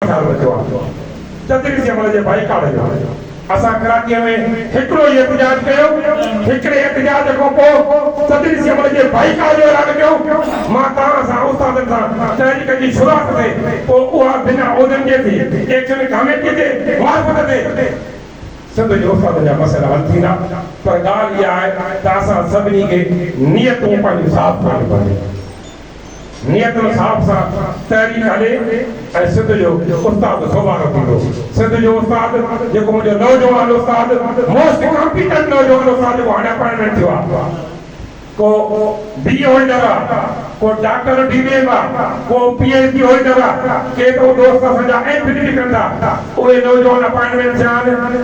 خيال رکيو آهي تدبير جي عمل جي بائيڪاٽ جو اسان ڪراچي ۾ هڪڙو ئي احتجاج ڪيو هڪڙي احتجاج کان پوء تدبير جي عمل جي بائيڪاٽ جو اعلان ڪيو مان توهان سان استادن سان تحريڪ جي شروعات تي پوء اها بنا عهدن جي ٿي ايڪشن ڪاميٽي جي معرفت تي سنڌ جي استادن جا مسئلا حل ٿيندا پر ڳالهه اها آهي ته اسان سڀني کي نيتون پنهنجون صاف ڪرڻيون پونديون. نيتن صاحب سان تحريڪ هلي ۽ سنڌ جو استاد دوبارو ٿيندو. سنڌ جو استاد جيڪو منهنجو نوجوان استاد موسٽ ڪامپيٽنٽ نوجوان استاد جيڪو هاڻي اپائنٽمينٽ ٿيو آهي. ڪو بي اي هولڊر آ، ڪو ڊاڪٽر ڊي بي ايم آ، ڪو پي ايڇ ڊي هولڊر آ، ڪي ته دوست اسان جا ايم فل به ڪن ٿا. اهي نوجوان اپائنٽمينٽ ٿيا آهن.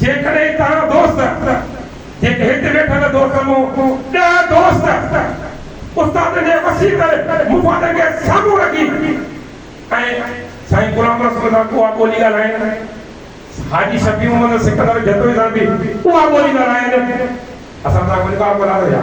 جيڪڏهن توهان دوست جيڪي هت ويٺل دوست مون ڏهه دوست استادن جي وسيع تر مفادن کي سامهون رکي ۽ سائين غلام رسول سان اها ٻولي ڳالهائين حاجي شفيع محمد سڪندر جتوئي سان به اها ٻولي ڳالهائين اسان سان ڪو انڪار ڪونه ٿو يا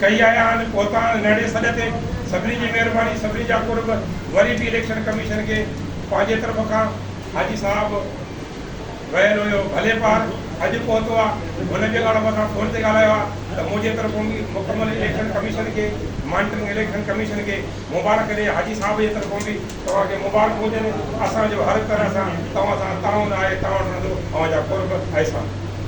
ڪئي آهي آن پهتا آهن نهڙي سڏ تي سڀني جي مهرباني سڀني جا قرب وري به اليڪشن ڪميشن کي پنهنجي طرف کان حاجي صاحب ويل هيو ڀلي پار اڄ پهتو آ هن جي لاڙ مٿان فون تي ڳالهايو آ ته منهنجي طرفون به مڪمل اليڪشن ڪميشن کي مانٽرنگ اليڪشن ڪميشن کي مبارڪ ڏي حاجي صاحب جي طرفون به توهان کي مبارڪ هجن اسان جو هر طرح سان توهان سان تعاون آهي تعاون رهندو اوهان جا قرب احسان.